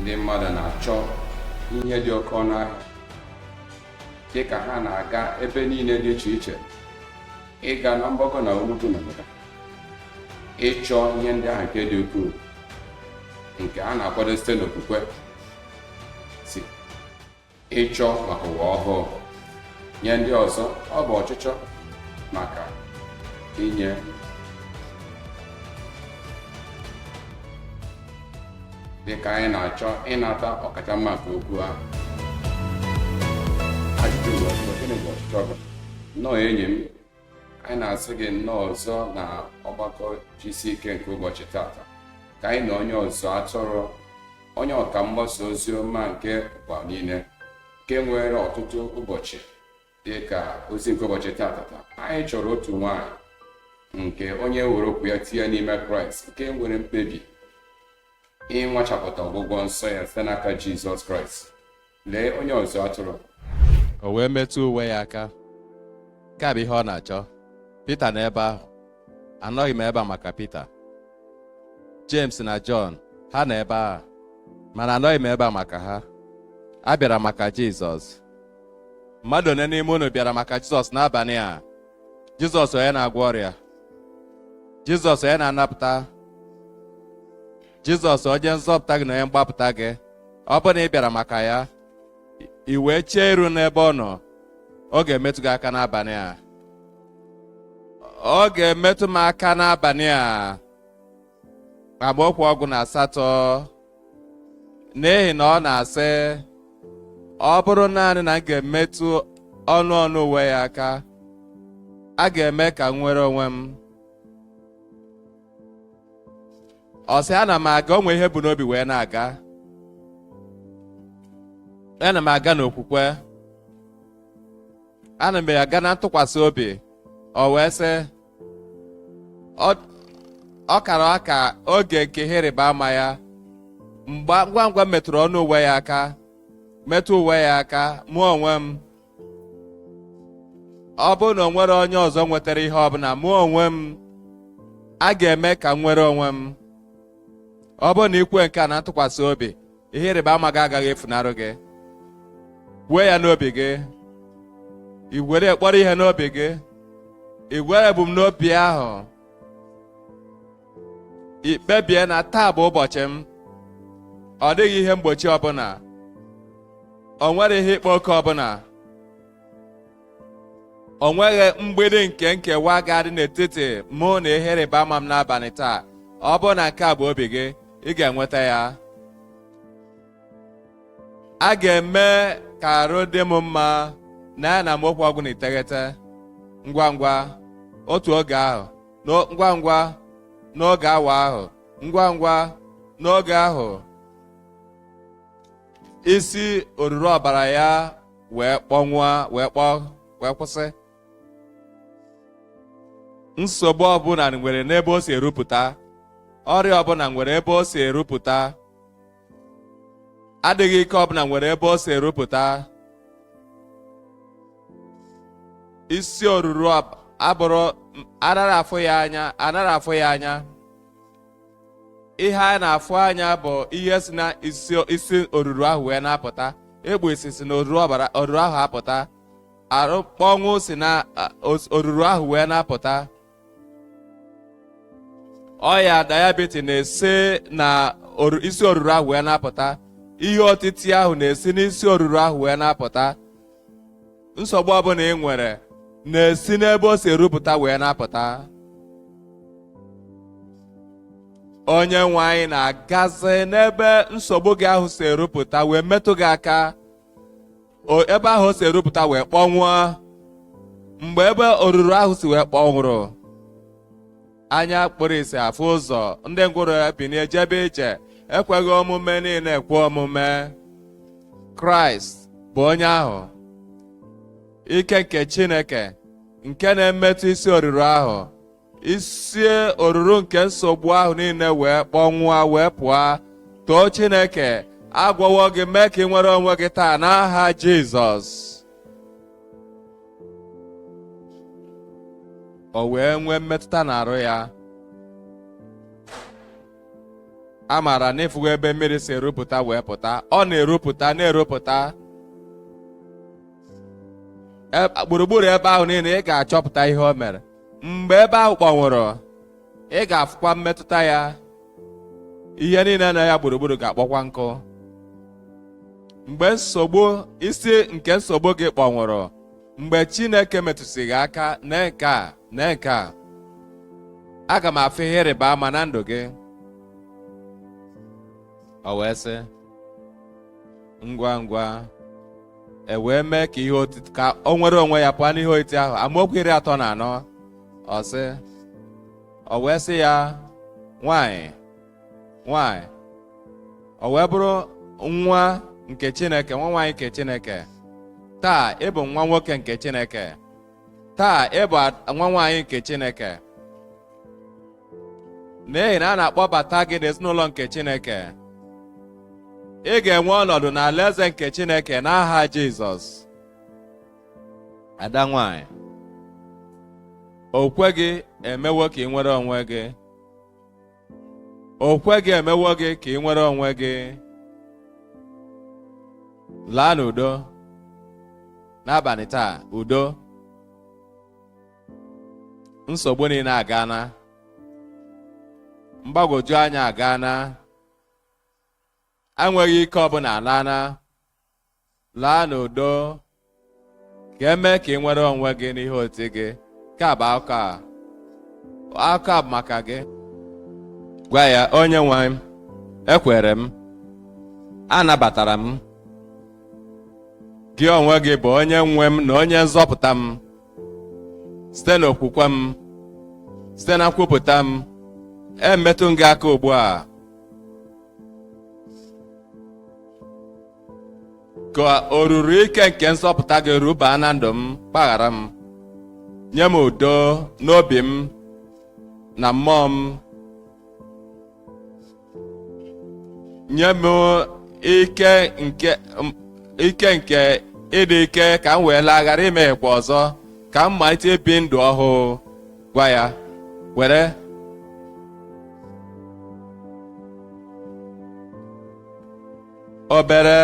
ndị mmadụ na-achọ ihe dị oke ọnụ ahịa dị ka ha na-aga ebe niile dị iche iche ịga na mgbakọ na ugwu na ndịda ịchọ ihe ndị ahụ nke dị ukwuu nke a na-akwado site n'okwukwe ịchọ maka ụwa ọhụụ nye ndị ọzọ ọ bụ ọchịchọ maka inye dịka anyị na-achọ ịnata ọkacha mma nke okwu ahụ ajụjụ bụ gịnị bụ ọchịchọ gị nnọọ enyi m anyị na-asị gị nnọọ ọzọ na ọgbakọ gck nke ụbọchị tata ka anyị na onye ọzụ atụrụ onye ọka mgbasa ozi ọma nke ụwa niile nke nwere ọtụtụ ụbọchị dị ka ozi nke ụbọchị tata anyị chọrọ otu nwanyị nke onye were okwu ya tinye n'ime kraịst nke nwere mkpebi ịnwachapụta ọgwụgwọ nsọ ya site n'aka jizọs kraịst lee onye ọzụ atụrụ o wee metụ uwe ya aka nke a bụ ihe ọ na-achọ Pita nọ ebe ahụ anọghị m ebe a maka Pita James na Jọn ha nọ ebe a mana anọghị m ebe a maka ha abịara m maka Jizọs mmadụ one n'ime unu bịara maka Jizọs n'abalị a Jizọs onye na-agwọ ọrịa Jizọs onye na-anapụta jizọs onye nzọpụta gị na onye mgbapụta gị ọ bụrụ na ị bịara maka ya i wee chee iru n'ebe ọ nọ ọ ga-emetụ gị aka n'abalị a ọ ga-emetụ m aka n'abalị a amaokwu ọgụ na asatọ n'ihi na ọ na-asị ọ bụrụ naanị na m ga-emetụ ọnụ ọnụ uwe ya aka a ga-eme ka m nwere onwe m ọ sị ana m aga o nwe ihe o bu n'obi wee na-aga ana m aga n'okwukwe ana m aga na ntụkwasị obi o wee sị ọ kara aka oge nke ihe ịrịba ama ya ngwa ngwa m metụrụ ọnụ uwe ya aka metụ uwe ya aka mụ onwe m ọ bụrụ na o nwere onye ọzọ nwetara ihe ọbụla mụ onwe m a ga-eme ka m nwere onwe m ọ bụrụ na i kwue nke a na ntụkwasị obi ihe ịrịba ama gị agaghị efunarụ gị kwue ya n'obi gị i were kpọrọ ihe n'obi gị i were ebumnobi ahụ ị kpebie na taa bụ ụbọchị m ọ dịghị ihe mgbochi ọbụla o nwere ihe ịkpa oke ọbụla o nweghị mgbidi nke nkewa ga-adị n'etiti mụ na ihe ịrịba ama m n'abalị taa ọ bụrụ na nke a bụ obi gị ị ga-enweta ya a ga-eme ka arụ dị m mma na ya n'amaokwu ọgụ na iteghete ngwa ngwa otu oge ahụ ngwa ngwa n'oge awa ahụ ngwa ngwa n'oge ahụ isi oruru ọbara ya wee kpọnwụọ wee kpọọ wee kwụsị nsogbu ọbụla nwere n'ebe o si erupụta ọrịa ọbụla nwere ebe o si erupụta adịghị ike ọbụla nwere ebe o si erupụta isi oruru abụrụ anaghị afụ ya anya ihe a na-afụ anya bụ ihe si na isi oruru ahụ wee na-apụta mgbu isi si na oruru ahụ apụta arụ kpọnwụ si na oruru ahụ wee na-apụta ọya diabetes na-esi na isi oruru ahụ wee na-apụta ihe otiti ahụ na-esi n'isi oruru ahụ wee na-apụta nsogbu ọbụla ị nwere na-esi n'ebe o si erupụta wee na-apụta onye nwe anyị na-agazi n'ebe nsogbu gị ahụ si erupụta wee metụ gị aka ebe ahụ o si erupụta wee kpọnwụọ mgbe ebe oruru ahụ si wee kpọnwụrụ anya kpụrụ isi afụ ụzọ ndị ngwụrụ ebinie jebe ije ekweghị omume niile ekwe omume kraịst bụ onye ahụ ike nke chineke nke na-emetụ isi oruru ahụ isi oruru nke nsogbu ahụ niile wee kpọnwụọ wee pụọ too Chineke agwọwo gị mee ka ị nwere onwe gị taa n'aha Jizọs o wee nwee mmetụta n'arụ ya a maara na ị fụgo ebe mmiri si erupụta wee pụta ọ na-erupụta na-erupụta gburugburu ebe ahụ niile ị ga-achọpụta ihe o mere mgbe ebe ahụ kpọnwụrụ ị ga-afụkwa mmetụta ya ihe niile na ya gburugburu ga-akpọkwa nkụ mgbe nsogbu isi nke nsogbu gị kpọnwụrụ mgbe Chineke metụsị gị aka na nke a na nke a aga m afụ ihe ịrịba ama na ndụ gị o wee sị ngwa ngwa e wee mee ka ihe otiti ka o nwere onwe ya pụọ n'ihe otiti ahụ amaokwu iri atọ na anọ ọ sị o wee sị ya nwanyị nwanyị o wee bụrụ nwa nke chineke nwa nwaanyị nke chineke taa ị bụ nwa nwoke nke chineke taa ị bụ nwa nwaanyị nke chineke n'ihi na a na-akpọbata gị n'ezinụlọ nke Chineke ị ga-enwe ọnọdụ n'alaeze nke Chineke n'aha Jizọs ada nwanyị okwukwe gị emewo ka ị nwere onwe gị okwukwe gị emewo gị ka ị nwere onwe gị laa n'udo n'abalị taa udo nsogbu niile agaana mgbagwoju anya agaana enweghị ike ọbụla alaana laa n'udo ka e mee ka ị nwere onwe gị n'ihe otiti gị nke a bụ akụkọ a akụkọ a bụ maka gị gwa ya onye nwe m ekwere m anabatara m gị onwe gị bụ onye nwe m na onye nzọpụta m site n'okwukwe m site na nkwupụta m emetụ m gị aka ugbu a ka oruru ike nke nzọpụta gị rubaa na ndụ m gbaghara m nye m udo n'obi m na mmụọ m nye m ike nke ịdị ike ka m wee laa ghara imehiekwa ọzọ ka m malite ibi ndụ ọhụụ gwa ya were obere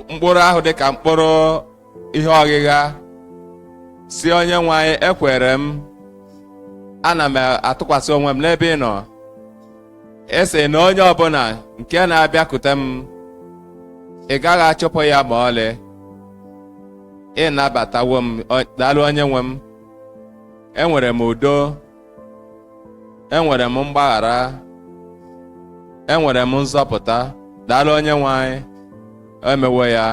mkpụrụ ahụ dị ka mkpụrụ ihe ọghịgha sị onye nwe anyị ekwere m ana m atụkwasị onwe m n'ebe ị nọ ị sị na onye ọbụla nke na-abịakute m ị gaghị achụpụ ya ma ọlị ị nabatawo m daalụ onye nwe m enwere m udo enwere m mgbaghara enwere m nzọpụta daalụ onye nwe anyị emewo ya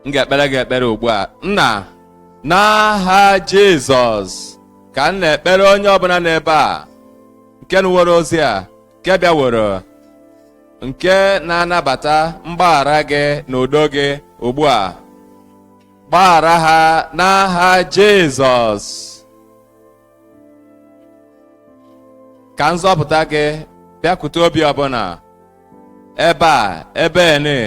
m ga-ekpere gị ekpere ugbu a nna n'aha jizọs ka m na-ekpere onye ọbụla n'ebe a nke nụworo ozi a nke bịaworo nke na-anabata mgbaghara gị na udo gị ugbu a gbaghara ha n'aha jizọs ka nzọpụta gị bịakwute obi ọbụla ebe a ebe ene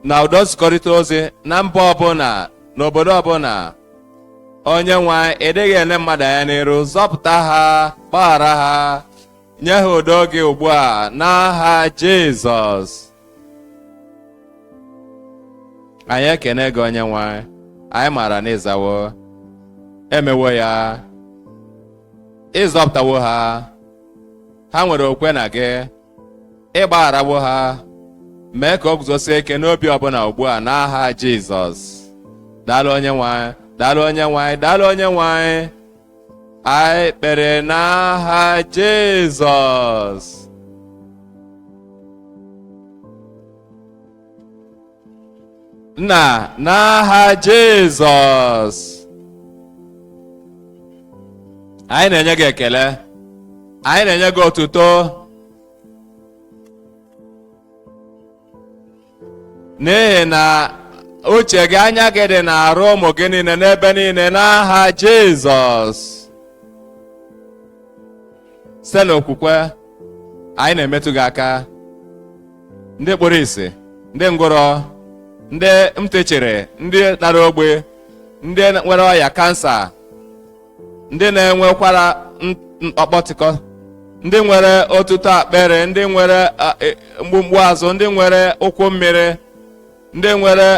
na ụdọ nzikọrịta ozi na mba ọbụla na obodo ọbụla onye nwe anyị ị dịghị ele mmadụ anya n'iru zọpụta ha gbaghara ha nye ha udo gị ugbu a n'aha Jizọs anyị ekene gị onye nwe anyị anyị maara na ị zawo emewo ya ị zọpụtawo ha ha nwere okwe na gị ị gbagharawo ha mee ka o guzosie ike n'obi ọbụla ugbu a n'aha Jizọs daalụ onye nwe anyị daalụ onye nwe anyị daalụ onye nwe anyị anyị kpere n'aha Jizọs nna n'aha Jizọs anyị na-enye gị ekele anyị na-enye gị otuto n'ihi na uche gị anya gị dị n'arụ ụmụ gị niile n'ebe niile n'aha Jizọs site n'okwukwe anyị na-emetụ gị aka ndị kpụrụ isi ndị ngwụrọ ndị ntị chiri ndị dara ogbi ndị nwere ọya kansa ndị na-enwekwara m- mkpọkpọtịkọ ndị nwere otuto akpịrị ndị nwere a, e, mgbumgbu azụ ndị nwere ụkwụ mmiri ndị nwere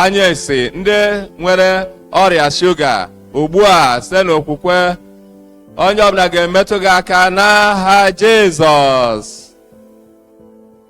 anya isi ndị nwere ọrịa shuga ugbu a site n'okwukwe onye ọbụla ga-emetụ gị aka n'aha jizọs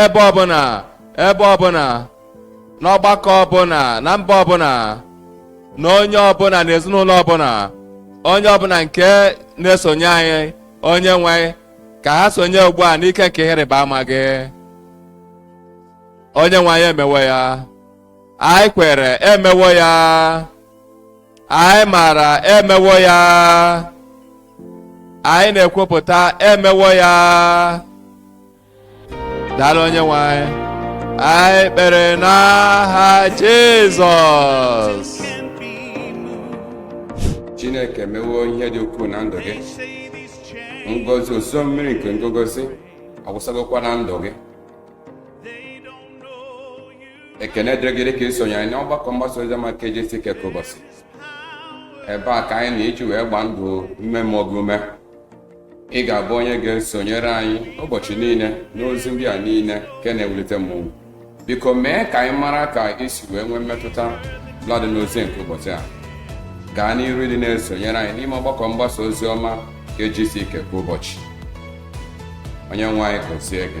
ebe ọbụla ebe ọbụla n'ọgbakọ ọbụla na mba ọbụla na onye ọbụla na ezinụlọ ọbụla onye ọbụla nke na-esonye anyị onye nwe anyị ka ha sonye ugbu a n'ike nke ihe ịrịba ama gị onye nwe anyị emewo ya anyị kwere emewo ya anyị maara emewo ya anyị na-ekwupụta emewo ya daalụ onye nwe anyị anyị kpere n'aha jizọs chineke emewo ihe dị ukwuu na ndụ gị ngọzị ozuzo mmiri nke ngogozi awụsagokwa na ndụ gị ekene dịrị gị dị ka isonye anyị n'ọgbakọ mgbasa ozi ọma nke GCK kwa ụbọchị ebe a ka anyị na-eji wee gbaa ndụ ime mmụọ gị ume ị ga-abụ onye ga-esonyere anyị ụbọchị niile n'ozi ndị a niile nke na-ewulite mmụọ biko mee ka anyị mara ka i si wee nwee mmetụta ọbụladị n'ozi nke ụbọchị a gaa n'iru ịdị na-esonyere anyị n'ime ọgbakọ mgbasa ozi ọma nke GCK kwa ụbọchị onye nwe anyị gọzie gị